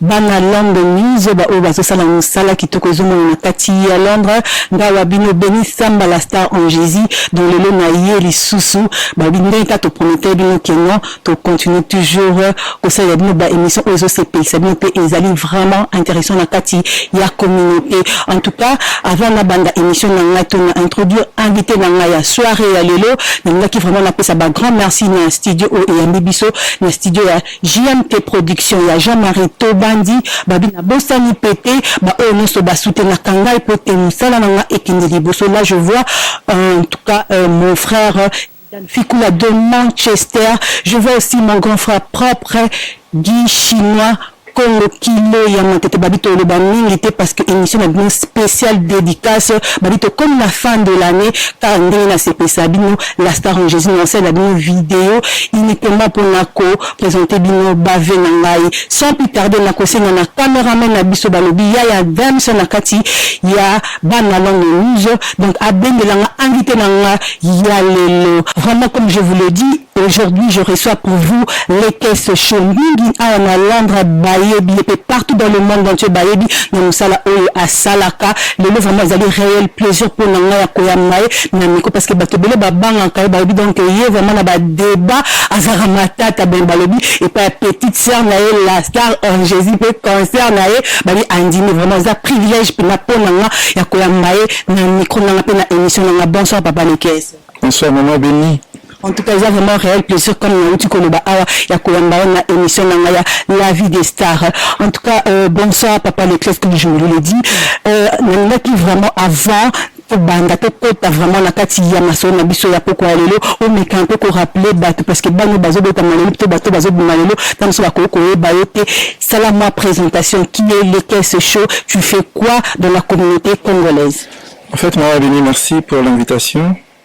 Bana london news ba oyo bazo sala musala kitoko ezo mona na kati ya londre nga wa bino beni samba la star en jesus donc lelo na ye lisusu ba bi ndenge ka to prometer bino que non to continue toujours ko salela bino ba emission oyo ezo sepelisa bino pe ezali vraiment interessant na kati ya communauté en tout cas avant na banda emission na nga to na introduire invité na nga ya soiree ya lelo na lingaki vraiment na pesa ba grand merci na studio oyo eyambi biso na studio ya JMT production ya Jean Marie Tobandi babi na bosani pe te ba oyo nionso ba soutenaka ngai po te musala na nga ekende liboso là je vois euh, en tout cas euh, mon frère Fikula de Manchester. Je vois aussi mon grand frère propre, Guy Chinois. Congo kilo ya matete babi toloba mingi te parce que émission na bino spéciale dédicace babi tokomi na fin de l'année kaka ndenge nasepesa bino La star en Jesus nasala bino video uniquement pour nako présenter bino bave na ngai sans plus tarder nakosenga na cameraman na biso balobi ya ya dams na kati ya bana longue rouge donc abendela nga invité na nga ya lelo vraiment comme je vous le dis Aujourd'hui, je reçois pour vous les caisses Shombingi à Londres, Bayebi, et partout dans le monde entier, Bayebi, dans Moussala Oyo, à Salaka. Le vraiment, vous avez réel plaisir pour Nanga Koyamae. na miko parce que bato ebele babangaka ye balobi donc ye vraiment na badeba azalaka matata ben balobi epai ya petite sœur na ye la star en jésus mpe concert na ye bali andimi vraiment eza privilège mpena mpo na nga ya koyamba ye na micro na nga mpe na émission na nga bonsoir papa lekese bonsoir mama beni En tout cas, eza vraiment réel plaisir comme na uti koloba awa ya koyamba yo na émission na ngaya La vie des stars. En tout cas, euh, bonsoir papa le classe comme je vous l'ai dit. Euh, nalingaki vraiment avant tobanda tokota vraiment na kati ya masolo na biso ya pokwa ya lelo omeka mpe koraple bato parce que bano bazobetama lelo mpe bato bazobima lelo ntango mosusu bakoki koyeba yo te sala mwa présentation qui est le caisse chaud tu fais quoi dans la communauté congolaise en fait mawa bini merci pour l'invitation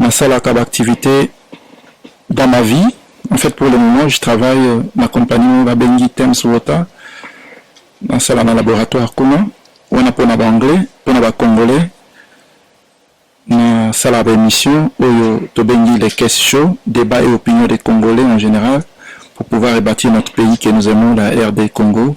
Nasalaka ba activites dans ma vie. En fait, pour le moment, je travaille euh, na compagnie oyo babengi Thames Water. Nasala na laboratoire kuna wana mpo na baanglais mpo na bacongolais nasala baémission oyo tobengi les caisses chaud débat et opinion des congolais en général pour pouvoir rebâtir notre pays que nous aimons la rd congo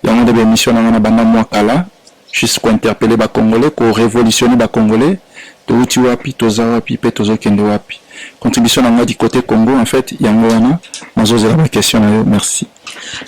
yango nde baémission na nga na banda mwa kala Juste ko interpeller ba congolais, ko revolutionner ba congolais, towuti wapi, toza wapi mpe tozokende wapi? Contribution na ngai du cote Congo en fait yango wana, nazozela ba question na yo. Merci.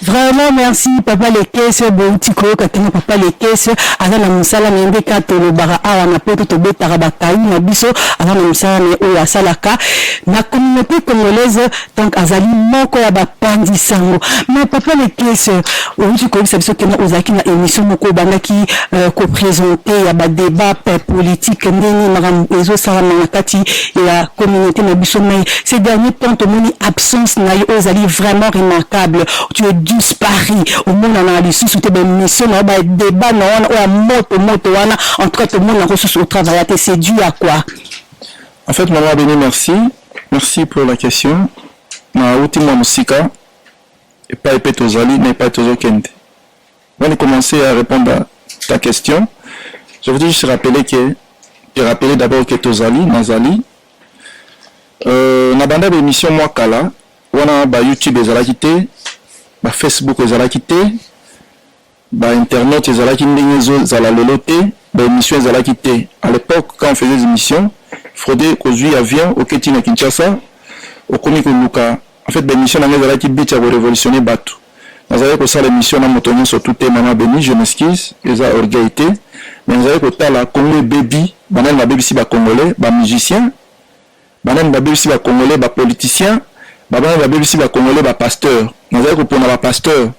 Vraiment merci papa lekese bouti koyoka tena papa lekese aza na mosala na ye nde kaka tolobaka awa na poto tobetaka bakayi na biso aza na mosala na ye oyo asalaka na communauté congolaise Donc azali moko ya bapanzi sango. Mais papa le pièce, owuti koyebisa biso kena ozalaki na emission moko obandaki euh, ko présenter ya ba débat politique ndenge makambo ezosalama na kati ya communauté na biso mais ces derniers temps tomoni absence na yo ozali vraiment remarquable tu es disparu omonana lisusu te bamission na yo ba débat na wana oyo ya moto moto wana en tout cas tomonanako susu otravaillate c'est dû à quoi En fait, maman Beni, merci. Merci pour la question. Na uti mwa mosika epai mpe tozali na epai tozokende. Avant de commencer à répondre à ta question, je voudrais juste rappeler que je rappeler d'abord que tozali nazali euh, na banda baémission mwa kala wana ba YouTube ezalaki te, ba Facebook ezalaki te, ba internautes ezalaki ndenge ezo zala lelo te ba emission ezalaki te à l'epoque quand on faisait emission Frode kozui avion oketi na Kinshasa okomi koluka en fait ba emission na ngai ezalaki but ya ko revolutionner batu nazalaki kosala emission na moto nyonso tout te maman Beni je m'excuse eza orgueil te mais nazalaki kotala Congo ebebi banani babebisi ba congolais ba musiciens Banani babebisi ba congolais? Ba politiciens ba banani babebisi ba congolais? Ba pasteurs. Nazali kopona ba pasteurs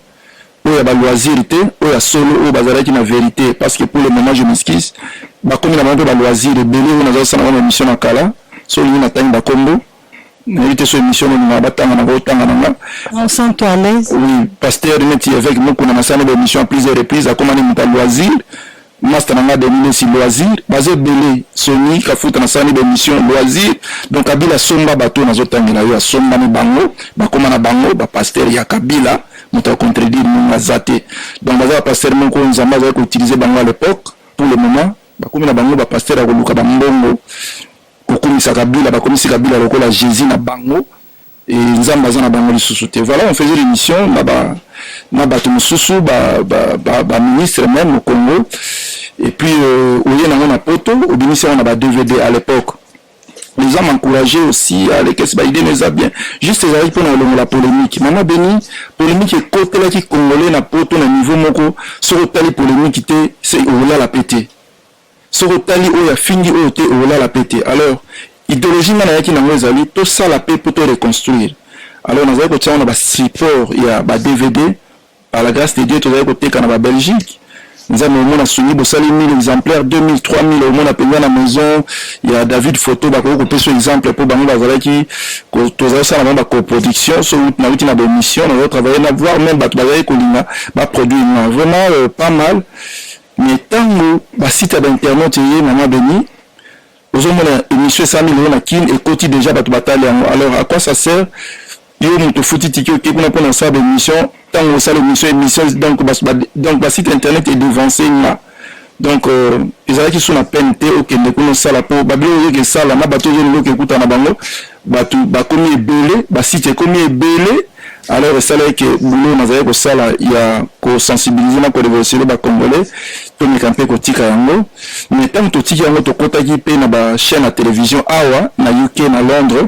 oyo ya ba loisirs te, oyo ya solo, oyo bazalaki na verite parce que pour le moment je m'excuse, bakomi na bango mpe ba loisirs ebele oyo nazali kosala na bango ba emissions na kala, soki olingi natangi ba kombo. nayebi te so émission nini na batanga na kotanga nanga on sent toi à l'aise oui pasteur neti évêque mukuna nasala ba émission à plusieurs reprises akomani moto ya loisir Masta na nga Denis Lessi loisir baza ebele Sony Kafuta na salani ba emission loisir donc Kabila asomba bato oyo nazo tangela yo asombani bango bakoma na bango ba pasteur ya Kabila moto ya contredire munga aza te donc baza ba pasteur moko oyo Nzambe azali ko utiliser bango à l'epoque pour le moment bakomi na bango ba pasteur ya koluka ba mbongo kokumisa Kabila bakomisi Kabila lokola Jesus na bango et nzambe aza na bango lisusu te voilà on faisait l'émission na ba na bato mosusu ba, ba, ba, ba ministre même au Congo et puis euh, oye nango na poto obimisi yango na ba dvd à l'époque nous avons encouragé aussi à lekesi baide na eza bien juste ezalaki mpona kolongola polémique mama beni polémique ekotelaki congolais na poto na niveau moko soki otali polémique te se okolala pe te Soki otali oyo afingi oyo te okolala pe te alors ideologie nga nayaki nango ezali tosala pe po to reconstruire alors nazali kotia yango na ba support ya ba dvd par la grace de Dieu tozali koteka na ba Belgique nzambe omona sungi bosali 1000 exemplaire 2000 3000 omona mpenza na maison ya David photo bakoki kopesa exemple mpo bango bazalaki tozali kosala bango bacoproduction so nauti na baémission nazo travaille na voir meme bato bazali kolinga baproduire nga vraiment euh, pas mal Mais tangu ba site ya ba internautes eye maman Beni ozo mona emission esami lelo na kin ekoti dejà batu batali yango alors à quoi ça sert yo mutu ofuti tiki oke kuna pona osala ba emission tangu osala emission emission donc ba, ba, donc ba site internet e devancer nga donc euh, ezalaki sous na peine te okende kuna osala po babilo oyoki esala na bato ozo loki ekuta na bango batu bakomi ebele ba site ekomi ebele alors esalaki ke boulot nazali kosala ya kosensibilize na korevolutione bacongolais tomeka mpe kotika yango mais ntango totiki yango tokotaki mpe na bachaine ya television awa na uk na londres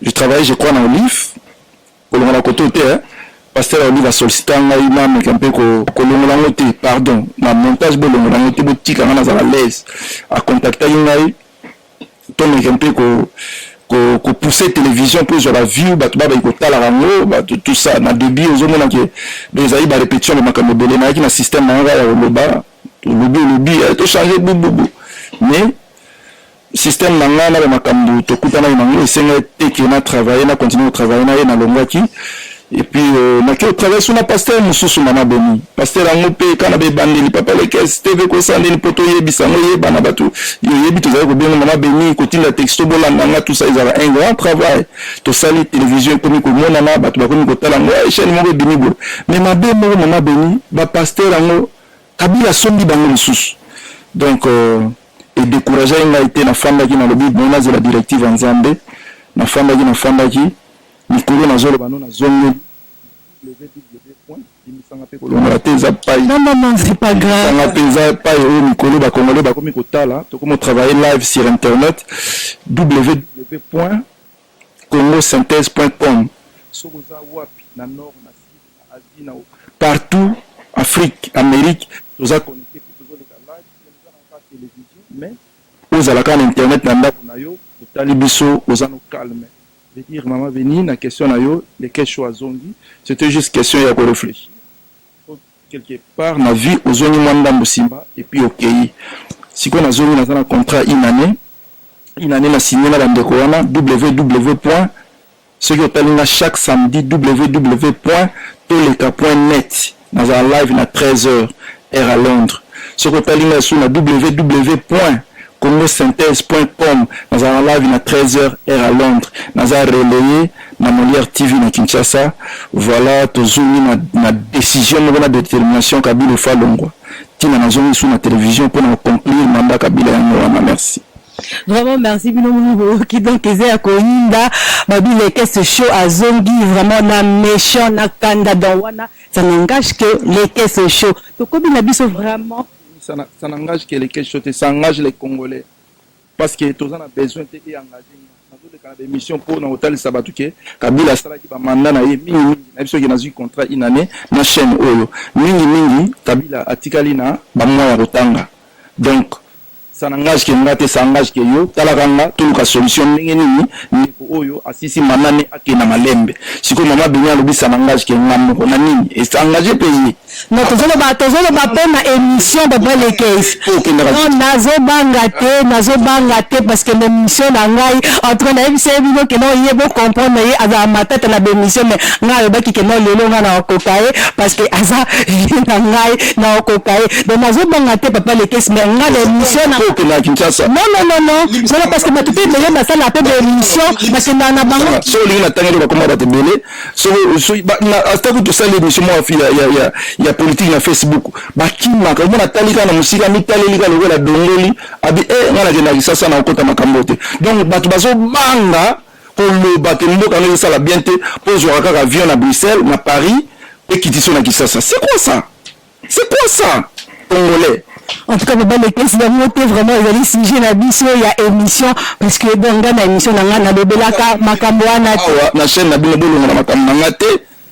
je travaille je crois na olive kolonga na koto te pasteur alobi na sollicita ngai nameka mpe kolongola yango te pardon na montage bolongola yango te botika ngai nazala laise akontaktaki ngai tomeka mpe kopousse télévision mpo ezwa baview bato babaki kotalaka yango bato tout ça na début ozomona ke ezali barépétition ba makambo ebele nayaki na système na yango ya koloba olobi olobi tochange bububu mais Système na nga na ba makambu tokutanaki na ngo esengaki te que na travailler na continuer ko travailler na ye na longwaki et puis euh, na ke travailler sous na pasteur mususu mama boni pasteur yango pe kana ba ebandeli papa lekes tv kosa nini po toyebisa ngo yeba na bato yoyebi tozali kobenga mama beni kotinda texto bolanda nga tout ça ezala un grand travail tosali télévision ekomi komonana bato bakomi kotala ngo eh, chaîne moko ebimi boye mais mabe moko mama beni ba pasteur yango kabila asombi bango lisusu donc euh, E decourageaki ngai te, nafandaki nalobi bon nazela directive ya Nzambe, nafandaki nafandaki, mikolo nazoloba no nazongeli kolongola te eza pai Non, non, non, c'est pas grave. lisanga mpe eza pai oyo mikolo ba congolais bakomi kotala tokomi kotravaille live sur internet www point congosynthèse point com soki oza wapi na nord na sud na asie na partout afrique amérique toza connecte mpe tozoleka live ozala kaka na internet na ndaku na yo otali biso oza no calme veut dire maman venie na question na yo lekesho azongi c'etait juste question ya ko reflechir po quelque part na vie ozongi mwa ndambu sima et puis okeyi sikoyo nazongi naza na contrat une annee une annee na signe na ba ndeko wana ww. Soki otali nga chaque samedi www.toleka.net nazala live na 13 heures heure ya Londres. Soki otali nga lisusu na www.congosynthese.com nazala na live na 13 heures heure ya Londres. Naza relaye na Molière TV na Kinshasa. Voilà tozongi na na decision moko na determination Kabila il faut alongwa. Tina nazongi lisusu na television pona ko conclure mandat Kabila yango wana. Merci. Vraiment merci bino moni boyoki donc eza ya koyinda babile kese show azongi vraiment na méchant na kanda donc wana ça n'engage que les kese show tokobi na biso vraiment ça na- ça n'engage que les questions te ça engage les congolais parce que toza na besoin te e engage nazoleka na baémission mpo na kotalisa bato ke kabila asalaki bamanda na ye mingimingi na biso ke nazwi contrat une année na chaîne oyo mingimingi kabila atikali na bamwa ya kotanga donc Ça n'engage que nga te, ça engage que yo. Tala ka nga, toluka solution ndenge nini ndeko oyo asisi mama ne akende na malembe. Sikoyo mama Beni alobi ça n'engage que nga moko na nini? Et ça engage pe ye. Non, tozoloba tozoloba pe na emission de Belle et Keys. Po okendaka Non, lisusu. nazobanga te, nazobanga te parce que l'emission na ngai en tout cas nayebisa ye bino que non ye bo comprendre ye azala matata na b'emission mais ngai alobaki que non lelo ngai nakokoka ye parce que aza vie na ngai na okoka ye donc nazobanga te papa lekesi mais nga na émission na kokenda kinshasa non non non non non parce que bato mpe ebele basala mpe baémission bakendaka na bango so olingi na tangi to bakoma bato ebele ata kutu osali émission moko ya politique na facebook bakimaka omona atali kaka na mosika amitaleli kaka lokola dongoli abi e eh, nga nakendaka kisasa na kokota makambo te donc bato bazobanga koloba ke mboka no ezosala bien te mpo ozwaka kaka avion na bruxelles na paris mpe kitiso na kisasa c'est quoi ça c'est quoi ça congolais en tout cas baba lekesi yango te vraiment ezali sujet na biso ya émission parce que bonga na émission na ngai nalobelaka makambo wana te na chaîne na bino bolongola makambo na ngai te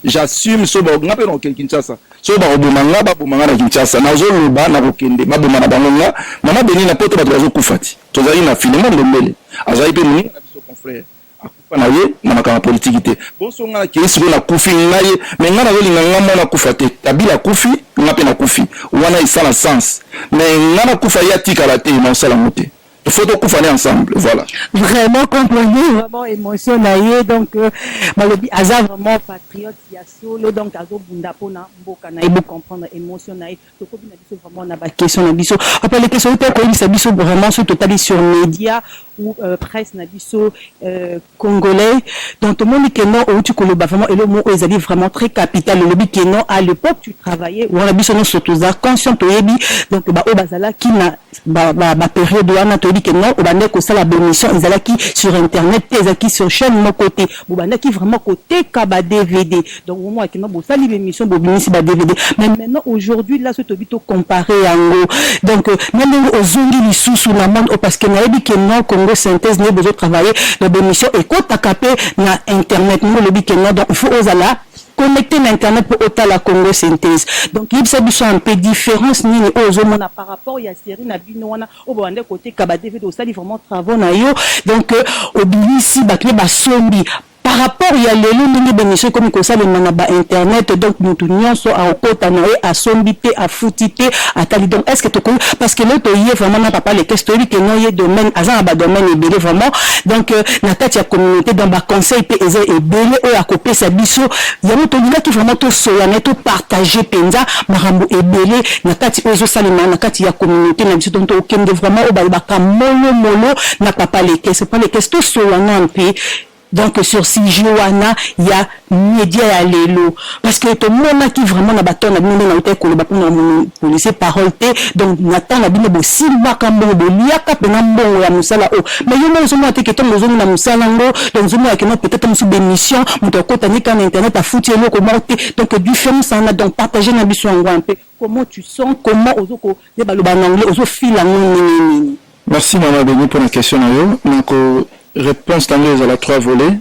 J'assume so ba nga pe na ken Kinshasa. So ba oboma nga ba boma nga na Kinshasa. Na zo loba na kokende ba boma na bango nga. Mama Beni na poto bato bazo kufa ti. Tozali na Filemon Ndombele. Azali pe moninga na biso confrère. Akufa na ye na makambo politiki te. Bonso nga na kei siko na kufi nga ye. Mais nga na zo linga nga mwana akufa te. Kabila akufi nga pe na kufi. Wana esala sens. Mais nga na kufa ye atikala te. Na osala ngo te. faut tokufa ne ensemble voilà vraiment comprenez vraiment émotion na ye donc euh, balobi aza vraiment patriote ya solo donc azobunda mpo na mboka na ye bocomprendre émotion na ye tokobi na biso vraiment na baquestion na biso apalekesoi te koyebisa biso vraiment soki totali sur média ou euh, presse na biso euh, Congolais donc tomoni que non owuti koloba vraiment eloko moko oyo ezali vraiment très capital olobi que non à l'epoque tu travaillais wana biso nionso toza conscient toyebi donc ba oyo bazalaki na ba ba ba periode wana toyebi que non obandaki kosala ba emission ezalaki sur internet te ezalaki sur chaine moko te bobandaki vraiment koteka ba dvd Donc vraiment akima bosali b'emission bobimisi ba dvd mais maintenant aujourd'hui là soki toyebi to comparer yango donc na ndenge ozongi lisusu na monde oyo parce que nayebi que non congo synthèse nde bozo travailler na b'emission ekotaka pe na internet ndenge olobi que non donc il faut ozala connecter na internet mpo otala congo synthèse donc yebisa biso un peu différence nini oyo ozomona par rapport ya série na bino wana oyo bobandaki koteka ba dvd osali vraiment travaux na yo donc obimisi bato mpe basombi Par rapport ya lelo ndenge b'emission ekomi kosalema na ba internet donc mutu nionso akokota naye asombi te afuti te atali donc est ce que tokoki parce que lelo toye vraiment na papa lekesse toyebi que non ye domaine aza na ba domaine ebele vraiment donc na kati ya communaute donc ba conseil pe eza ebele oyo akopesa biso yango tolingaki vraiment tosolola naye to partager penza makambo ebele na kati oyo ezosalema na kati ya communaute na biso donc tokende vraiment oyo balobaka molomolo na papa lekesse papa lekesse tosolola nanu pe donc sur sujet wana ya media ya lelo parce que tomonaki vraiment na bato na bino nde nautaki koloba mpona monopolise parole te donc na temps na bino bosimbaka mbongo boliaka mpena mbongo ya mosala oyo mais yo moko ozomona te ketongo ozongi na mosala yango donc ozomona keno peut-être mosusu bémission moto akotani kaka na internet afuti eloko moko te donc différence wana donc partage na biso yango un peu Comment tu sens comment ozo ko yeba loba na anglais ozo feel yango ndenge nini. Merci maman Denis pona question na yo na ko reponse na ngo ezala trois volets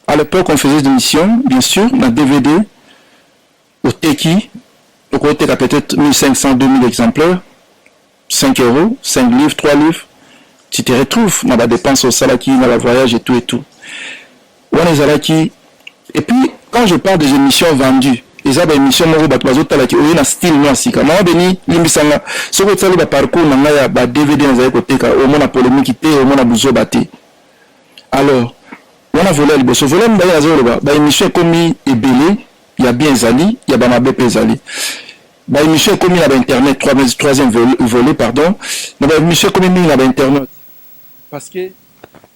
à l'epoque on faisait des missions bien sur na dvd oteki okoteka peut-être 1500 2000 exemplaires 5 euros, 5 livres, 3 livres, tu te retrouves na ba dépenses au salaki, na ba voyages et tout et tout. Wana ezalaki et puis quand je parle des émissions vendues, eza ba émission moko bato bazotalaki oye na style mwa sika mama beni limbisa nga soki otali ba parcours na ngai ya ba dvd nazali koteka omona polemiki te omona buzoba te alors wana volet ya liboso volet ya mibale nazali koloba ba émission ekomi ebele ya bien ezali ya bamabe mpe ezali Ba emission ekomi na ba internet troisième volet pardon na ba emission ekomi mingi na ba internet parce que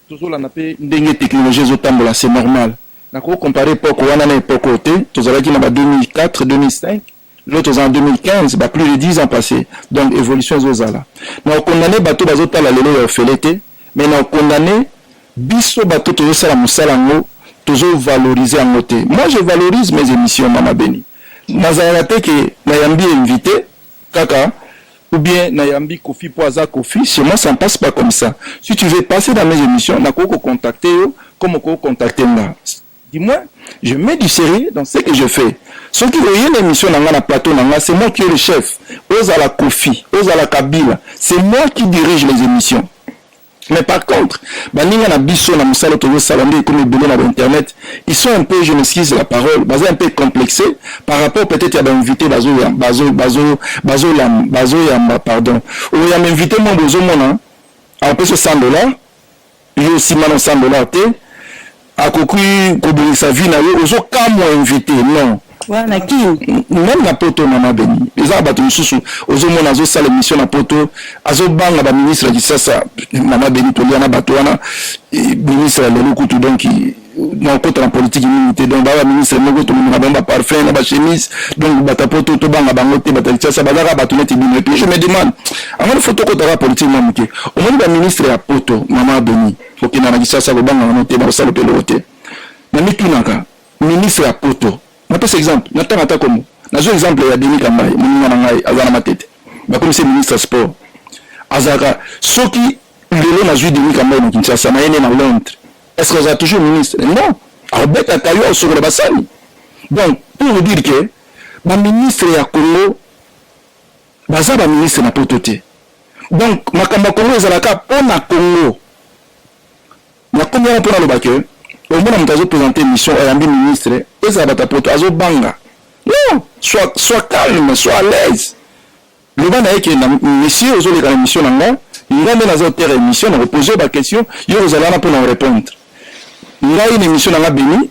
tozolanda mpe ndenge technologie ezotambola c'est normal na ko comparer époque wana na époque oyo te tozalaki na ba 2004 2005 lelo toza na 2015 ba plus de 10 ans passé donc évolution ezozala na okondane bato bazotala lelo ya ofele te mais na okondane biso bato tozosala mosala yango tozovalorize yango te moi je valorise mes émissions mama beni Nazalaka te que na yambi invite kaka ou bien na yambi Koffi po aza Koffi chez moi ça ne passe pas comme ça si tu veux passer dans mes emissions na koki ko contacter yo comme okoki ko contacter nga du moins je mets du serieux dans ce que je fais soki oye na emission na nga na plateau na nga c'est moi qui est le chef ozala Koffi ozala Kabila c'est moi qui dirige les emissions Mais par contre, baninga na biso na musala tozo sala nde comme ebele na internet, ils sont un peu, je m'excuse la parole, baza un peu complexé par rapport peut-être à ba invité bazo ya bazo bazo bazo la bazo ya ma pardon. Ou ya invité mon bozo mona, en plus 100 dollars, yo aussi mano 100 dollars te. akoki kobongisa vie na yo ozo kamwa invité non wana kin même na poto mama beni eza bato mosusu ozomona azosala émission na poto azobanga baministre ya kisasa mama beni tolia na bato wana ministre ya lelo kutu donc nakota na politiki mingi te donc baa baministre moko tomemaka bango baparfum na bachemise donc bato ya poto tobanga bango te bato ya kisasa bazaka bato neti bino epuis je me demande angani fo tokotaka politiki mwa moke omoni baministre ya poto mama beni Kokenda na Kinshasa kobanga nano te, nakosala pe eloko te. Namitunaka ministre ya poto, napesa exemple, natanga ata kombo, nazwa exemple ya Denis Kambayi, moninga na ngai aza na Matete, bakomisi ye ministre ya sport, azalaka soki lelo nazwi Denis Kambayi na Kinshasa, naye nde na Londres, est-ce que azala toujours ministre? Non, akobetaka yo, akosokola basani. Donc pour vous dire que ba ministre ya Congo Baza ba ministre na poto te donc makambo ya Congo ezala ka pona Congo. Na komi wana pona loba que omona moto azo presenter emission ayambi ministre ezala bato ya poto azo banga non soit soit calme soit à l'aise loba na ye ke na monsieur ozo leka na emission na nga nga nde naza otere emission na ko poser ba question yo ozala wana pona orepondre ngai na emission na nga bimi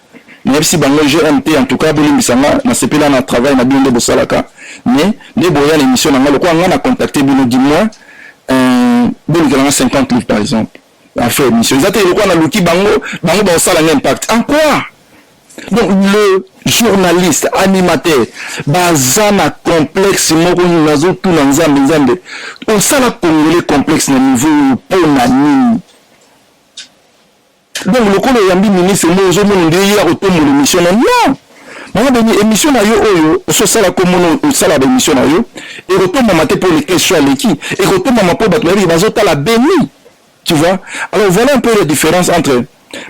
Nayebisi bango GM te en tout cas bolimbisa nga nasepela na travail na bino nde bosalaka mais nde boya na emission na nga lokola nga na contacte bino du moins euh, bolukela nga 50 livres par exemple affaire émission eza te lokola naluki bango bango bakosala nga impact en quoi donc le journaliste animateur baza na complexe moko nazotuna nzambe nzambe osala congolais complexe na niveau oyo mpo na nini donc lokola oyambi ministre nde ozomona nde ye akotombola émission na non mama beni émission na yo oyo ososala komona osala baémission na yo ekotombama te mpo le question aleki ekotombama mpo bato bayebi bazotala beni tu vois alors voilà un peu la différence entre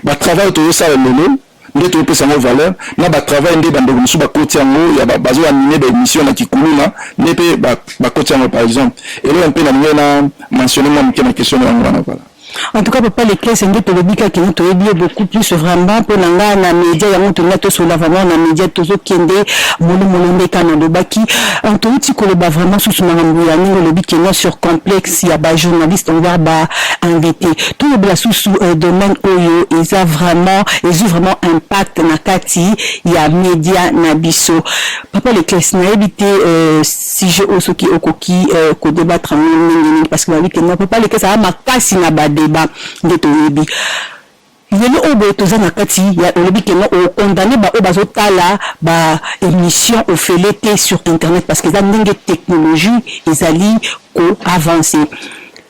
batravail tozosala lelo nde topesa yango valeur na batravail nde bandeko mosusu bakoti yango ya bazoanime baémission na kikuluna nde mpe bakoti yango par exemple eloko mpe na ndenge na mentionne mwa moke na question na yango wana vala En tout cas, papa les clés, c'est ndoto lobi kaka ndoto yebi beaucoup plus vraiment pour na nga na media ya moto na toso la vraiment na media tozo kende molo molo ndeka na lobaki. En tout ti ko loba vraiment sous na ngambo ya ningo lobi kenya sur complexe ya ba journaliste on va ba invité. Tout le bla sous sous euh, domaine oyo eza vraiment ezu vraiment impact na kati ya media na biso. Papa les clés na yebi te euh, sujet oyo soki okoki euh, kodebattre yango ndenge nini parce que babi ke non papa leke ezala makasi na badeba nde toyebi lelo oyo boye toza na kati ya olobi ke non okondane baoyo bazotala baémission ofele te sur internet parce que eza ndenge technologie ezali koavance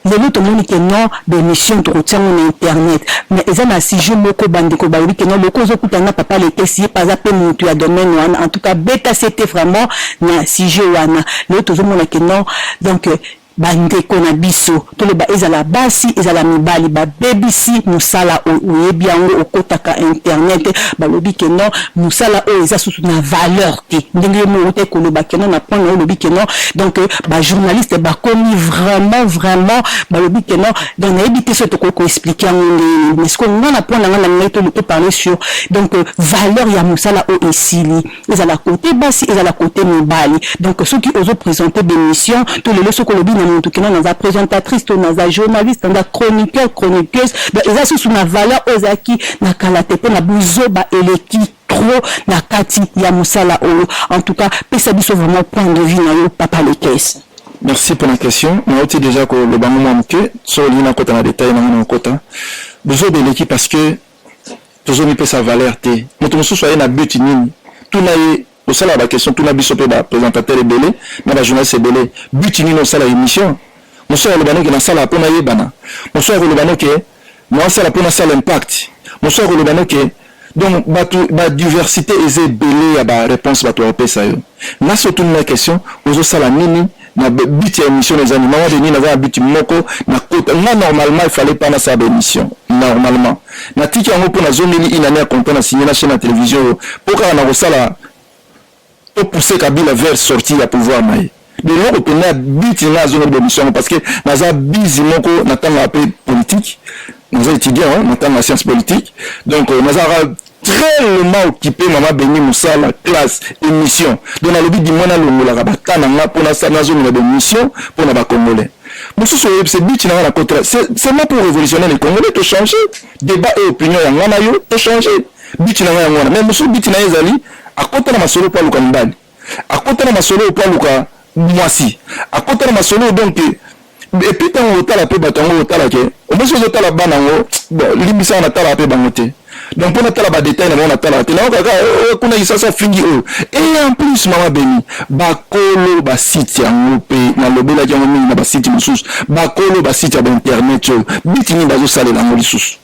Lelo tomoni que non ba emission tokotia ngo na internet mais eza na sujet moko ba ndeko balobi que non lokola ozo kutana na papa letesi ye pe aza pe mutu ya domaine wana en tout cas beta sete vraiment na sujet wana lelo tozo mona que non donc ba ndeko na biso toloba ezala basi ezala mibali ba bebisi musala oyo oyebi yango okotaka internet balobi que non musala oyo eza susu na valeur te ndenge yo moko te koloba keno na point nayo olobi keno donc euh, ba journaliste bakomi vraiment vraiment balobi keno donc nayebi te soki tokoki koexplike yango ndenge nini mais sikoyo nga na point na nga na ngai toloto parle sur donc euh, valeur ya mosala oyo esili ezala kote basi ezala kote mibali donc soki ozo présente bémission to lelo soki olobi na motu keno naza présentatrice to naza journaliste naza chroniqueur chroniqueuse donc eza susu na valeur oyo ezalaki na kala te mpo na buzoba eleki trop na kati ya musala oyo en tout cas pesa biso vraiment point de vue na yo papa le caisse merci pour la question nauti déjà koloba ngo mwa moke so olingi nakota na detail nanga nakota buzoba eleki parce que tozomipesa valeur te moto mosusu aye na but nini tuna ye osalaka baquestion tuna biso mpe bapresentateur ebele na bajournaliste ebele but nini osala émission mosusu akoloba noke nasala mpo nayebana mosusu akoloba noke Nao sala pona sala impact. Mosusu ako loba no ke donc batu ba diversite eza ebele ya ba reponse batu bako pesa yo. Nga soki otuni nga question ozo sala nini na but ya emission eza nini? Maman Denis naza na but moko na kota nga normalement il fallait pas na sala ba emission normalement. Na tiki yango po na zongeli une annee ya compte na signe na chaine ya television oyo po kaka nako sala To pousser Kabila vers sortie ya pouvoir na ye. Biloko penza ya biti nga azonga ba emission yango parce que naza busy moko na tanga pe politique. Naza étudiant hein, na tanga science politique. Donc euh, naza tellement occupé mama beni mosala classe émission donc nalobi dimwa nalongolaka bata na nga mpo nasala nazongela baémission mpo na bacongolais mosusu oyebisa bici na nga na kotra seulement pour révolutionner les congolais tochanger débat et opinion ya nga na yo tochanger But na nga yango wana. Mais mosusu but na ye ezali akota na masolo mpo aluka mibali. Akota na masolo mpo aluka mwasi. Akota na masolo donc epuis ntango otala mpe bato yango otala ke omosi ozotala bana yango limbisaka natalaka mpe bango te donc mpo natala badetail na bango natalaka te nayoka kaka oh, oh, kuna isasa fingi oyo oh. e en plus mama beni bakolo basite yango mpe nalobelaki yango mingi na basite mosusu bakolo basite ya bainternet oyo biti nini bazosalela yango lisusu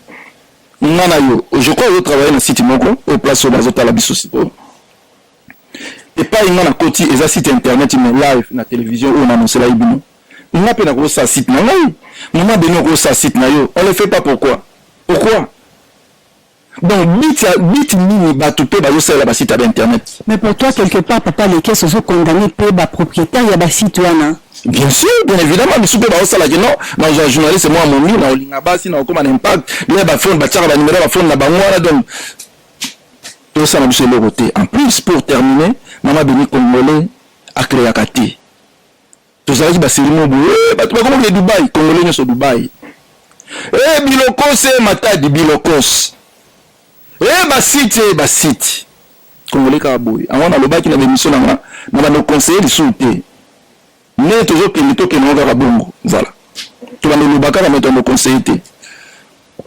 Nga na yo je crois ozo travailler na site moko oyo place oyo bazo tala biso sikoyo epai nga nakoti eza site internet mais live na television oyo naanonselaki bino nga mpe nakosala site na ngai mama beni okosala site na yo on le fait pas pourquoi pourquoi donc bit ya bit nini bato mpe bazosalela basite ya bainternet mais pour toi quelque part papa lekes ozokondanne mpe bapropriétaire ya basite wana Bien sûr, bien évidemment, misusu mpe baosalaki no nazwa journaliste mwa momi na olinga basi na okoma na impact bile bafone batiaka banimero ya bafone na bango wana donc tosala biso eloko te en plus pour terminer mama beni congolais akreaka te tozalaki baselimo boye eh, bato bakomokile dubai congolais nyonso dubai e eh, bilokose eh, matadi bilokose e basite basite Congolais kaka boye. Yango na lobaki na bemission na nga na bando conseiller lisusu te. Ndenge tozo kende to kende kaka bongo. Voilà. To bando loba kaka mais to conseiller te.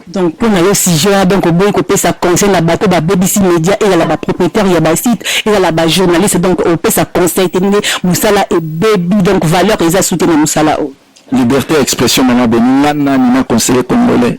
Donc pour na yo sujet ya donc oboyi kopesa conseil na bato babebisi media ezala ba propriétaire ya ba site ezala ba journaliste donc opesa conseil te ndenge mosala ebebi donc valeur eza sute na mosala oyo. Liberté ya expression mama boni nga nani na conseiller congolais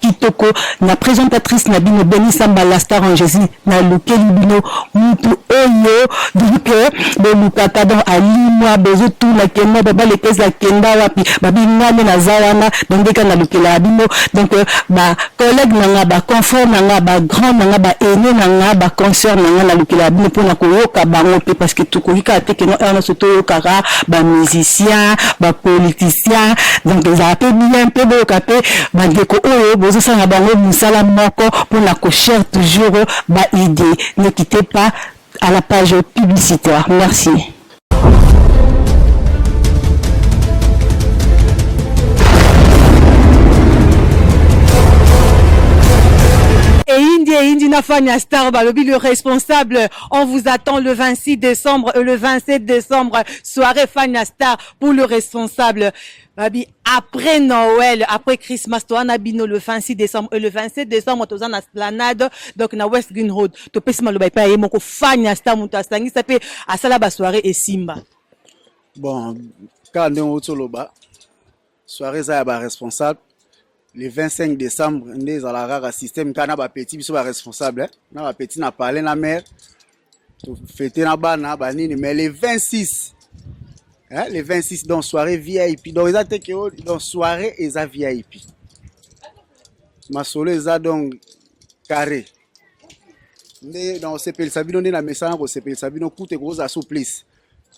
Kitoko na presentatrice na bino Boni Samba la star en Jesus na lukeli bino mutu oyo donc bolukaka donc alimwa bozo tuna kema baba lekeza kenda wapi babi ngane na za wana donc ndeka na lukela bino donc ba collègue na nga ba confrère na nga ba grand na nga ba aîné na nga ba concert na nga na lukela bino pona koyoka bango pe parce que tokoki kaka te keno heure nyonso toyokaka ba musiciens ba politiciens donc ezala pe bien pe boyoka pe Ba ndeko oyo bozo sala na bango musala moko pona ko share toujours ba idee ne quittez pas à la page publicitaire merci. Eyindi Eyindi na fan ya star balobi le responsable on vous attend le 26 décembre et le 27 décembre soirée fan ya star pour le responsable babi après Noël, après Christmas, toi na bino le 26 décembre et le 27 décembre toza na Esplanade donc na West Green Road. To pesi maloba epai ye moko fan ya star mutu asangisa pe asala ba soirée et Simba. Bon, kaka ndenge outi oloba soirée eza ya baresponsable le 25 décembre nde ezalaka kaka système kaka na bapetit biso baresponsable eh? na bapetit na palais na maire fete na bana ba nini mais le 26 hein, le 26 dans soirée vip donc eza te ke oh, dans soirée eza vip masolo eza donc carré nde na kosepelisa bino nde na mesana kosepelisa bino kutu ekozala souplice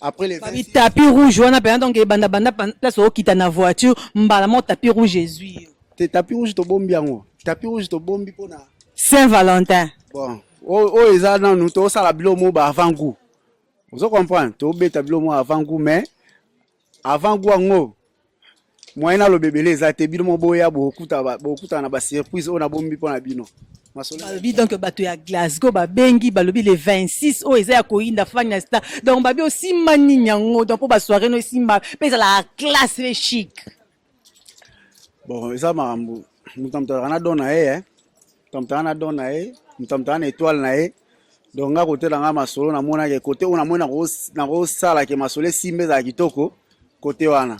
après les babi tapis rouge wana mpenza donc ebanda banda place okita na voiture mbala moko tapis rouge ezwi yo te tapis rouge tobombi yango tapis rouge tobombi mpo na saint valentin bon oyo eza nanu tosala bilo mo ba avant goût ozo comprendre tobeta bilo mo avant goût mais Avant goût yango moyen na lobebele eza te bino mo boya bokuta bokuta na ba surprise oyo nabombi mpo na bino balobi donc bato ya glasgow babengi balobi le 26 oyo eza ya koyinda fani na star donc babi osimba nini yango donc mpo basoire no esimba mpe ezalaka classe mpe chic bon eza makambo moto na moto azalaka na don na ye eh. moto na moto azalaka na don na ye moto na moto azalaka na étoile na ye donc nga kote na nga masolo namonaki kote oyo namoni nakosala ke masolo esimba ezala kitoko kote wana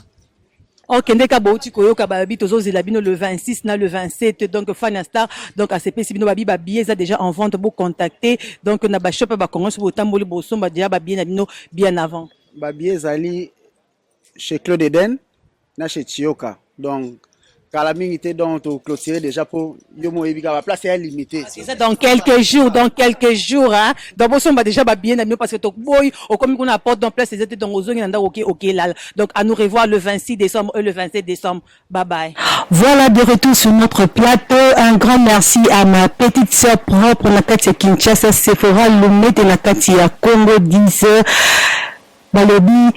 okende ka bouti koyoka babi tozozela bino le 26 na le 27 donc fan ya star donc asepesi bino babi babillet eza déjà en vente bocontacte donc na bashop ya bacongo soki botamboli bosomba déjà babillet na bino bien avant babillet ezali chez Claude Eden na chez Chioka donc kala mingi te donc to clôturer déjà po yo mo yebi kaka place ya limité Eza dans quelques jours, dans quelques jours hein. Donc bosomba déjà ba billets na bino parce que to boy okomi kuna na porte donc place ezete donc ozongi na ndako oke oke lala. Donc à nous revoir le 26 décembre et le 27 décembre. Bye bye. Voilà de retour sur notre plateau. Un grand merci à ma petite sœur propre Nakati ya Kinshasa, Sephora Lumete Nakati ya Congo 10. Balobi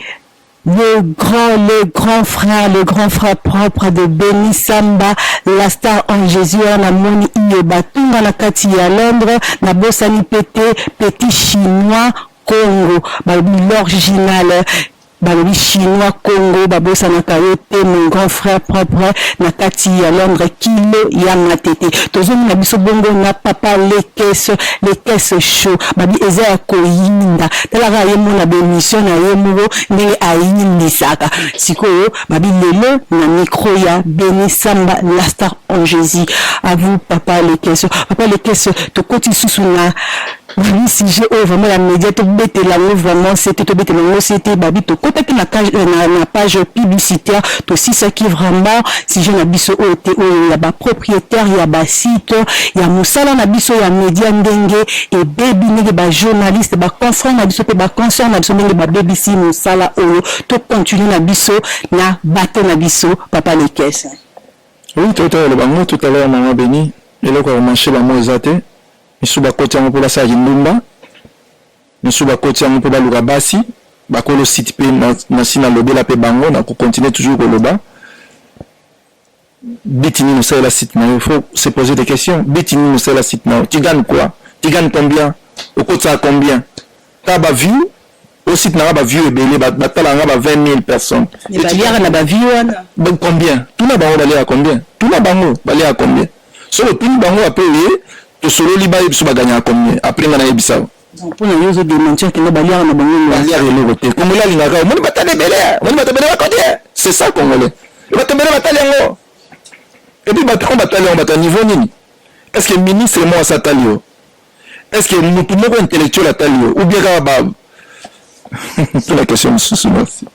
le grand le grand frère le grand frère propre de Beni Samba la star en Jesus wana namoni iyo batunga na kati ya Londres nabosani pe te petit chinois Congo balobi l'original balobi chinois Congo babosanaka yo te mon grand frère propre na kati ya Londres kilo ya matete tozomona biso bongo na papa lekes lekes show babi eza ya koyinda tala kaka ye mona ba emission na ye moko ndenge ayimbisaka sikoyo babi lelo na micro ya beni samba la star en jesus à vous papa lekesio papa lekesio tokoti lisusu na babi sujet oyo vraiment ya média tobetela yango vraiment sete tobetela yango sete babi tokotaki na, cage- eh, na, na page publicitaire tosisaki vraiment sujet na biso oyo te oyo ya bapropriétaire ya basite ya mosala na biso ya média ndenge Ebebi ndenge ba journaliste, ba confrères na biso pe ba consoeurs na biso ndenge babebisi mosala oyo. To continuer na biso na bateau na biso papa Lekesse. Oui toto ya loba ngo tout à l'heure maman Beni eloko ya ko marcher ba mot eza te misusu ba koti yango po ba sala kindumba misusu ba koti yango po ba luka basi ba kolo site pe na si na lobela pe bango na ko continuer toujours ko loba Biti nini osalela site na yo? Il faut se poser des questions. Biti nini osalela site na yo? Tu gagnes quoi? Tu gagnes combien? Okotisaka combien? Ka ba view au site na nga ba view ebele ba batala nga ba 20 000 personnes. Mais Et tu baliaka na ba view wana. Donc combien? Tuna bango baliaka combien? Tuna bango baliaka combien? Soki otuni bango après oye tosololi bayebisa baganyaka combien? Après nga nayebisa yo. Mpo na yo ozo dementir que ba liaka na bango mbwa. Ba liaka eloko te. Congolais alingaka omoni ba tala ebele eh. Omoni bato ebele ba koti eh. C'est ça congolais. Bato ebele ba tali yango. Et puis bato yango ba tali yango bato ya niveau nini? Est-ce que ministre mwasi atali yo? Est-ce que mutu moko intellectuel atali yo? Ou bien kaka ba tuna question mosusu merci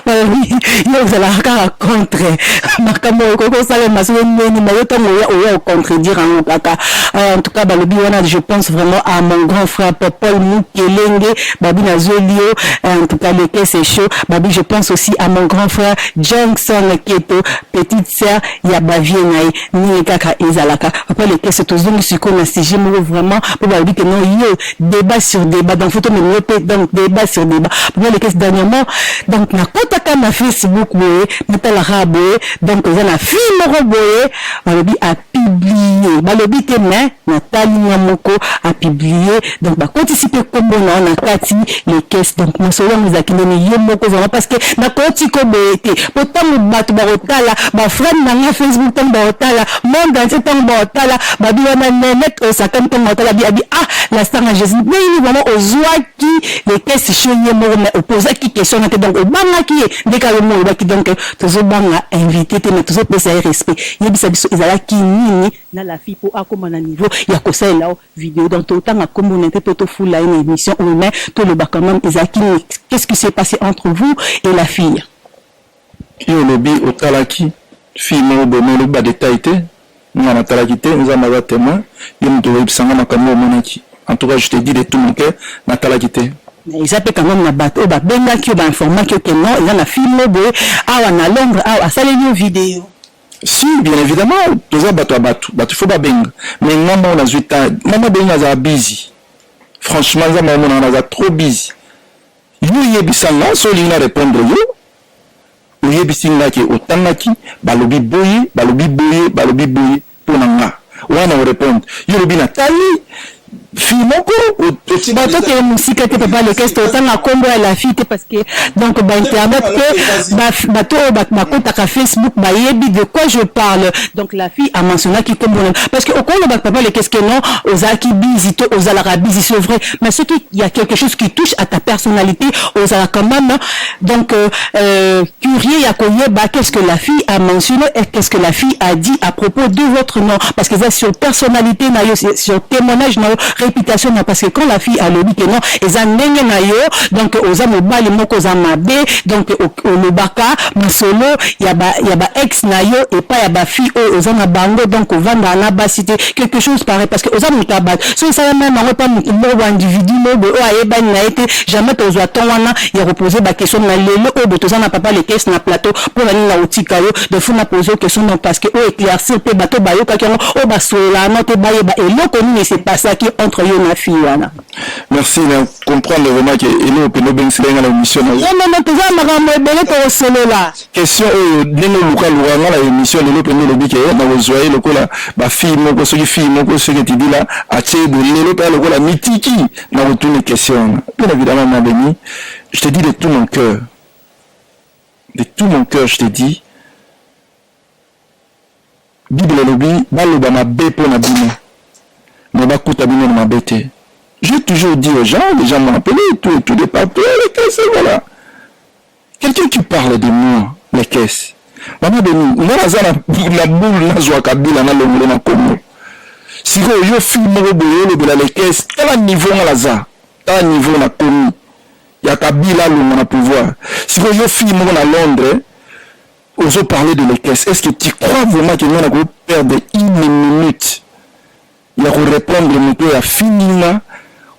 balobi yo ozalaka kaka contre makambo okoki kosalema soki nini mayo ntango oya oya ocontredire yango kaka euh, en tout cas balobi wana je pense vraiment à mon grand frère popol mukelenge babi nazweli yo euh, en tout cas leke c'est chaud babi je pense aussi à mon grand frère johnson keto petite sœur ya bavie na ye ndenge kaka ezalaka papa lekese tozongi sikoyo na sujet moko vraiment mpo balobi ke non yo debat sur debat donc faut tomema yo mpe donc debat sur debat mpo nalekesi dernièrement donc nakotaka na facebook boye natalaka boye donc eza na fille moko boye balobi apiblie balobi te mais natali nga moko apiblie donc bakotisi mpe nkombo na yo na kati lekesi donc masolo yango ezalaki ndeni yo moko vraiment parce que nakoti ko boye te mpo ntango bato bakotala baframe na nga facebook ntango bakotala monde entier tango baotala babi wana nenet oyo sakani tango baotala bi abi ah la star na jésus ndenge vraiment ozwaki lekesi sho ye moko mais opozaki question na te donc obangaki ye nde kaka yomo olobaki donc tozobanga invité te mais tozopesa ye respect yebisa biso ezalaki nini na la fille mpo akoma na niveau ya kosalela o video donc totanga nkombo na te mpo tofula ye na émission oyo mais tolobaka mame ezalaki nini qu'est ce qui s'est passé entre vous et la fille Yo olobi otalaki fille moko boye mais olobi ba details te nga natalaki te nzambe aza temoin yo mutu oyebisa nga makambu oyo omonaki en tout cas je te dis de tout mon cœur natalaki te. Mais eza pe quand meme na batu oyo ba bengaki yo ba informaki yo que non eza na fille moko boye awa na londres awa asaleli yo video. Si bien evidemment toza batu ya batu batu faut ba benga mais nga moko nazui temps mama bengi azala busy franchement nzambe amonaka naza trop busy. Yo yebisa nga soki olingi na repondre yo oyebisi nga ke otangaki balobi boye balobi boye balobi boye mpo na nga wana orepondre yo olobi na tali fille moko batokee mosika te papa lekeste otanga nkombo ya la fille te parce que donc bainternet mpe bato oyo bakotaka facebook bayebi de quoi je parle donc la fille amentionnaki nkombo na parce que okoloba papa lekeste non ozalaki bizi to ozalaka bizi c'est vrai mais ce qui y a quelque chose qui touche à ta personnalité ozala quand même donc euh, euh, curieux ya koyeba qu'est-ce que la fille a mentionné et qu'est-ce que la fille a dit à propos de votre nom parce que ça sur personnalité na yo sur témoignage na yo réputation na parce que quand la fille alobi que non eza ndenge na yo donc oza mobali moko oza mabe donc olobaka masolo ya ba ya ba ex na yo epa ya ba fille oyo oza na bango donc ovanda na basi te quelque chose pareil parce que oza moto ya bato soki esalami na bango epa motu moko bo individu moko boye oyo ayebani na ye te jamais tokozwa temps wana ya kopose ba question na lelo oyo bo toza na papa lekesi na plateau mpo na nini na kotika yo de fo na pose yo question donc parce que o éclaircir mpe bato oyo bayokaki yango oyo basololaka no te bayeba eloko nini se pasaki entre yo na fille wana merci na comprendre vraiment ke eloko mpenza obengisela ye nga na émission na yo non non non toza na makambo ebele tokosolola question oyo ndenge oluka luka nga na emission lelo mpenza olobi ke nakozwa ye lokola bafille moko soki fille moko soki etidila atie boye lelo mpenza lokola mitiki na kotuni question wana bien évidemment ma beni je te dis de tout mon cœur de tout mon cœur je te dis bible elobi baloba mabe mpo na bino me bakuta bino na mabe te j'ai toujours dit aux gens les gens m'ont appelé tout et tout de partout les casse voilà Quelqu'un qui parle de moi, les caisses. Maman Beni, nga naza na boule nazwa Kabila na longolo na Congo. Sikoyo yo fille moko boye olobela les caisses, tala niveau nga naza, tala niveau na komi ya Kabila longo na pouvoir. Sikoyo yo fille moko na Londres, ozo parler de les caisses. Est-ce que tu crois vraiment que nga nako perdre une minute ya ko repondre moto oyo afingi nga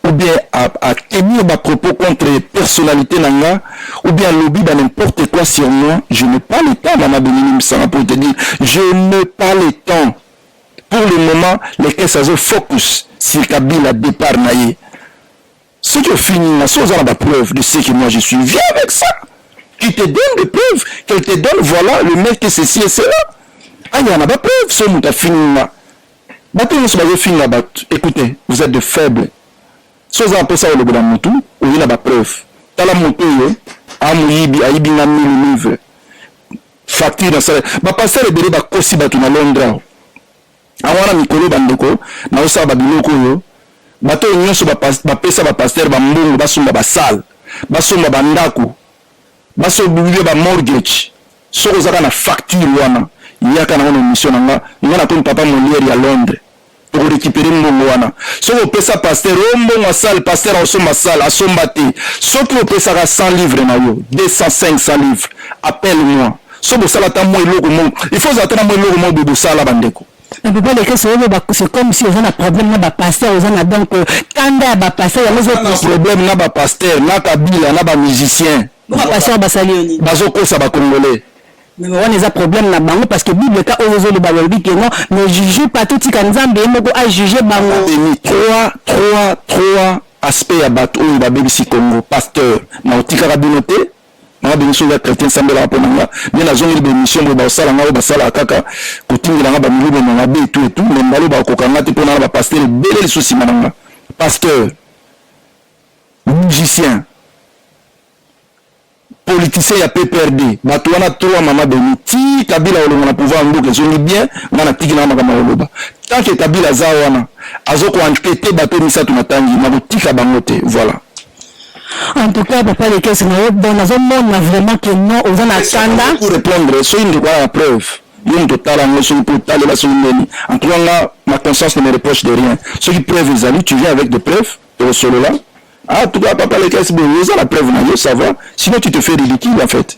ou bien a, a tenir ba propos contre personnalité na nga ou bien alobi ba n'importe quoi sur moi je n'ai pas le temps mama Dominique Msanga pour te dire je n'ai pas le temps pour le moment les caisses azo focus sur Kabila départ na ye Soki ofingi nga, soki oza na ba preuves de ce que moi je suis, viens avec ça. Qu'il te donne des preuves, qu'elle te donne, voilà, le mec te ceci et cela. Aya na ba preuves, so muta fingi nga. Bato nyonso bazo finga bato. Écoutez, vous êtes de faibles. So oza apesa olobela mutu, oye na ba preuves. Tala moto oyo, amoyibi, ayibi nga mille livres. Facture na salaire. Ba pasteur ebele bakosi bato na Londres. Yango wana mikolo bandeko, naosala babiloko oyo bato oyo nyonso bapesa bapastere bambongo basomba basale basomba bandako basobibie bamortgage soki ozaka na facture wana yaka nango na émission na nga nga nakomi papa moliere ya londres tokorekipere mbongo wana soki opesa paster o oh, mbongo asale paster aosomba sale asomba te soki opesaka 100 livre na yo 200 500 livre appelle moi so bosala ata mwa eloko moko il faut ozala ata na mwa eloko moko boye bosala bandeko na papa lekesi oyo c'est comme si oza na problème na bapaster oza na donc euh, kanda ya bapaster yango oza problème na bapaster na kabila na bamusicien bapaster basali yo nini bazokosa bacongolais meme wana eza problème na bango parce que bible ka oyo ezoloba balobi ke non ne juge pas totika nzambe ye moko ajuge bango trois trois trois aspect ya bato oyo babebisi congo pasteur na otikaka bino te Maman Beni soki oza chrétien sambelaka mpo na nga nde nazongeli ba émission boye bakosala nga oyo basalaka kaka kotindela nga bamilimo na mabe etu etu me mbala bakokoka nga te mpo nanga bapasteur ebele lisusu nsima na nga pasteur musicien politicien ya pprd bato wana trois mama beni ti kabila olongo na pouvoir ya mboka ezongi bien nga natiki nanga makambo ya koloba tanke kabila aza wana azokoankete bato misato na tangi nakotika bango te voilà En tout cas, papa les caisses, bon, nazo mona vraiment que non, oza na kanda. Pour répondre, soki ndeko ya preuve, yo moto otala yango soki mpo otalela soki nini en tout cas nga ma conscience ne me reproche de rien soki preuve ezali tu viens avec des preuves tokosolola ah tout cas papa lekesi boye oza na preuve na yo ça va sinon tu te fais ridicule en fait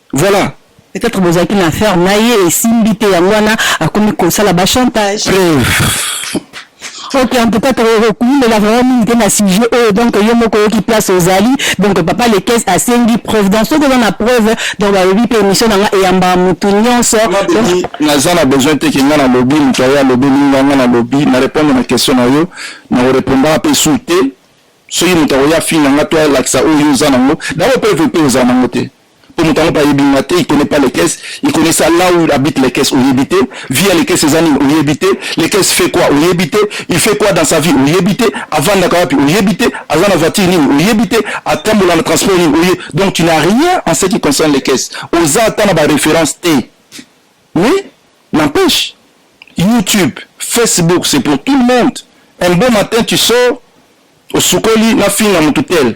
Voilà. Peut-être bozalaki na affaire na ye esimbi te yango wana akomi kosala ba chantage. Preuve. Ok, en tout cas, tokokumbela vraiment mingi te na sujet oyo donc yo moko oyoki place ozali donc papa lekes asengi preuve donc soki oza na preuve donc balobi mpe émission na nga eyambaka motu nyonso donc naza na besoin te ke nga nalobi moto aye alobeli nga nga nalobi na répondre na question na yo na korepondaka mpe su te soki moto akoya afinga nga to alakisa oyo oza nango dabo preuve mpe oza nango te po moto yango pe ayebi nga te, il connait pas les caisses, il connait ça là où habite les caisses, oyebi te, vie ya les caisses eza nini, oyebi te, les caisses fait quoi, oyebi te, il fait quoi dans sa vie, oyebi te, avandaka wapi, oyebi te, aza na voiture nini, oyebi te, atambola na transport nini, oye, donc tu n'as rien en ce qui concerne les caisses, oza ata na ba références te, mais n'empêche, YouTube, Facebook, c'est pour tout le monde, un bon matin tu sors, osukoli na finga mutu tel,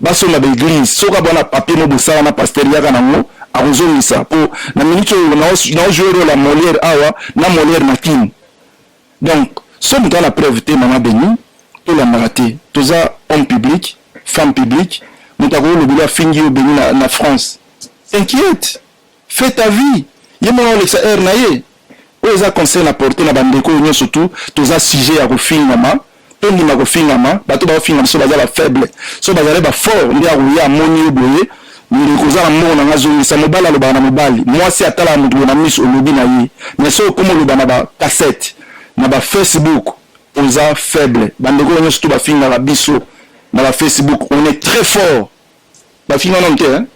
Basomba ba eglise soki abwa na papier mo bosala na pasteur yaka nango akozongisa po na minute oyo nao jouer role ya Molière awa na Molière na kin donc so moto ana preuve te mama beni tolandaka te toza homme public femme publique moto akoki olobeli afingi yo beni na, na France s'inquiète Fais ta vie. Ye mwana olekisa heure na ye. Oyo eza conseil na porte na bandeko oyo nyonso tu toza sujet ya kofingama tondima kofingama bato baofinga biso baza ba faible so bazali ba fort nde akoya amoni yo boye ndeko oza na mbongo na nga zongisa mobali alobaka na mobali mwasi atalaka moto boye na miso olobi na ye mais so okoma oloba na ba cassette na ba facebook oza faible bandeko oyo nyonso tu bafingaka biso na ba facebook on est très fort bafinga nanu te hein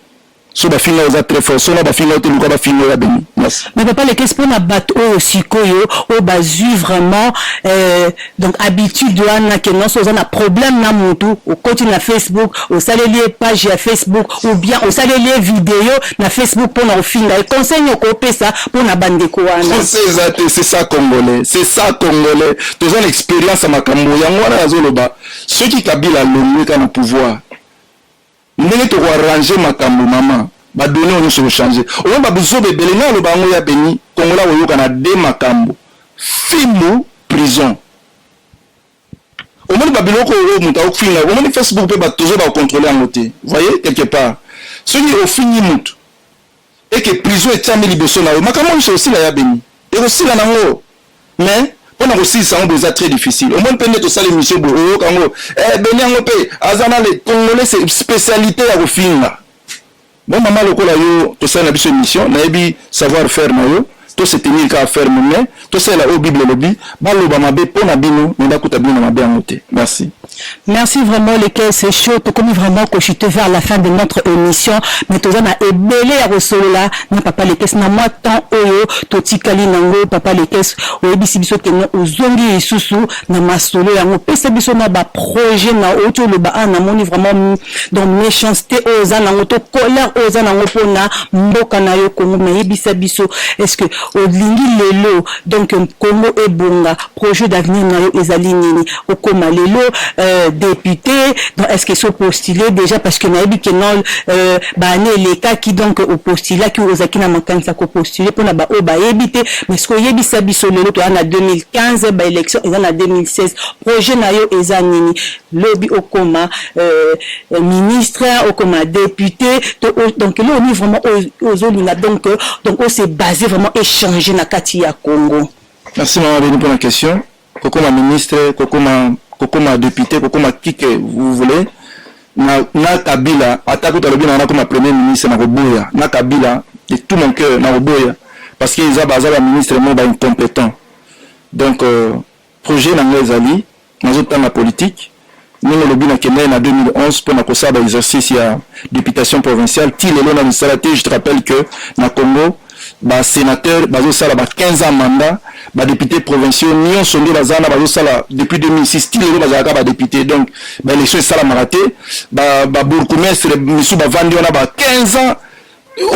so bafinga oza très fort sona bafinga ote luka bafinga oya beni merci mais papa lekesi mpo na bato oyo sikoyo oyo bazwi vraiment euh, donc habitude wana ke nonso oza na problème na motu okoti na facebook osaleli ye page ya facebook ou bien osaleli ye video na facebook mpo na kofinga ye conseil nini okopesa mpo na bandeko wana conseil eza te c'est ça congolais c'est ça congolais toza na expérience ya makambo yango wana nazoloba soki kabila alongwe ka na pouvoir Ndenge toko arranger makambu maman ba donnees oyo nionso eko changer omoni ba buzoba ebele ngai naloba yango ya beni congolais akoyoka na de makambu fimbu prison omoni ba biloko oyo mutu akofinga omoni Facebook pe batu tozo ba controler yango te voyez quelque part soki ofingi mutu et que prison etiami liboso na yo makambo nionso ekosila ya beni ekosila na ngo mais pona kosilisa yango boye eza très difficile omoni mpe nde tosala emission boye oyoka yango eh, beni yango mpe aza na le congolais spécialité ya kofinga bon mama lokola yo tosali na biso émission nayebi savoir faire na yo To se tenir kaka ferme mais tosalela oyo bible elobi, baloba mabe po na bino mais bakuta bino na mabe yango te. Merci. Merci vraiment le coeur c'est chaud tokomi vraiment ko chute vers la fin de notre emission mais toza na ebele ya kosolola na papa lekes na mwa temps oyo totikali nango papa lekes oyebisi biso keno ozongi lisusu na masolo yango pesa biso na ba projet na oti oloba a namoni vraiment donc méchanceté oyo oza nango to colère oyo oza nango mpona mboka na yo congo mais yebisa biso est ce que olingi lelo donc congo ebonga projet d'avenir na yo ezali nini okoma lelo euh, député donc est ce que so postule déjà parce que nayebi ke non euh, baane elekaki donc opostulaki ozalaki na makanisi ya kopostule mpona baoyo bayebi te mais ce que oyebisa biso lelo toya na 2015 baélection eza na 2016 projet na yo eza nini lobi okoma euh ministre okoma depute to donc eloko nini vraiment ozo linga donc donc o se base vraiment e changer na kati ya Congo. Merci maman Beni pona question kokoma ministre kokoma kokoma depute kokoma qui que vous voulez na na Kabila ata kutu alobi na nakoma premier ministre na koboya na Kabila de tout mon cœur na koboya parce que eza baza ba ministre mo ba incompetent donc euh, Projet na nga ezali nazo tanga politique ndenge olobi na kendaki na 2011 mpo na kosala ba exercice ya deputation provinciale ti lelo na misala te je te rappelle que na Congo ba senateurs bazo sala ba 15 ans mandat ba depute provinciaux nionso nde baza na bazo sala depuis 2006 ti lelo bazalaka ba depute donc ba election esalamaka te ba, ba bourgmestre misu bavandi wana ba 15 ans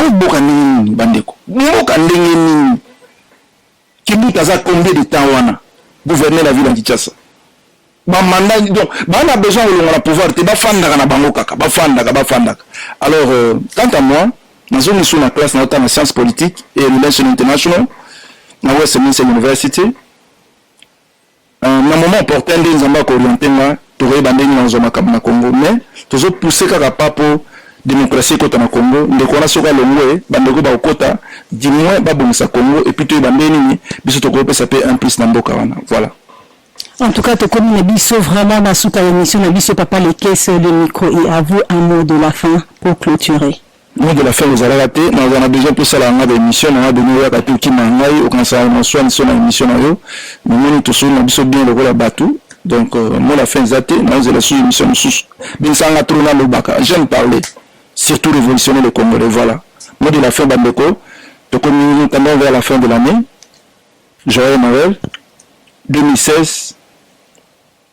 oboka ndenge nini bandeko mboka ndenge nini Kimbuta aza combien de temps wana gouverneur la ville ya Kinshasa? Ba manda donc ba na besoin kolonga na pouvoir te, bafandaka na bango kaka, bafandaka bafandaka. Alors euh, quant à moi, nazo misu na classe na otanga science politique et relation international na Westminster University Na moment opportun nde Nzambe ako orienter nga, tokoyeba ndenge nini nakozwa makambo na Congo mais tozo pousser kaka pas mpo democratie ekota na Congo. Ndeko wana soki alongwe, bandeko bakokota, du moins babongisa Congo et puis toyeba ndenge nini biso tokopesa mpe un plus na mboka wana. Voilà. En tout cas, tokomi na biso vraiment na suka ya emission na biso papa Lekesse, le micro est à vous, un mot de la fin pour clôturer. Moi de la fin ozalaka te naza na besoin mpe osalaka ngai baémission nanga deni oyaka te okima ngai okanisaka na swa niso na émission na yo namoni tosoli na biso bien lokola bato donc euh, moi la fin eza te naozela susu émission mosusu binisaka nga trop nalobaka j'aime parler surtout révolutionner le congolais voilà moi de la fin bandeko tokomi tendance vers la fin de l'année joyeux noël 2016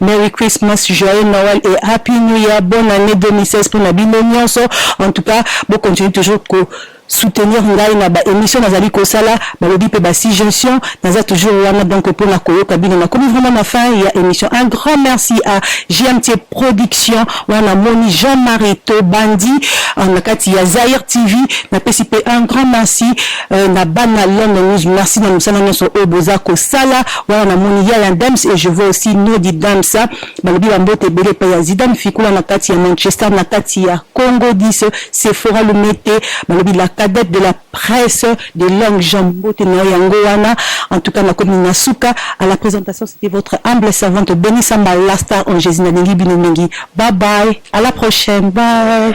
Merry Christmas, joyeux Noël et happy new year, bonne annee 2016 pona bino nionso, en tout cas bo continuer toujours ko soutenir ngai na ba emissions nazali kosala, balobi pe ba suggestions, naza toujours wana donc pona koyoka bino, nakomi vraiment na fin ya emission, un grand merci à JMT production, wana namoni Jean Marie Tobandi na kati ya Zaïre TV, napesi pe un grand merci na bana London News, merci na mosala nionso oyo boza kosala. Wana na moni ya ya Dems et je vois aussi no di Dems balobi ba mbote ebele epai ya Zidane Fikula na kati ya Manchester na kati ya Congo dis Sephora Lumete balobi la cadette de la presse de longue jambe mbote na yo yango wana en tout cas na komi na suka à la presentation c'était votre humble servante Beni Samba la star en Jésus na lingi bino mingi bye bye à la prochaine bye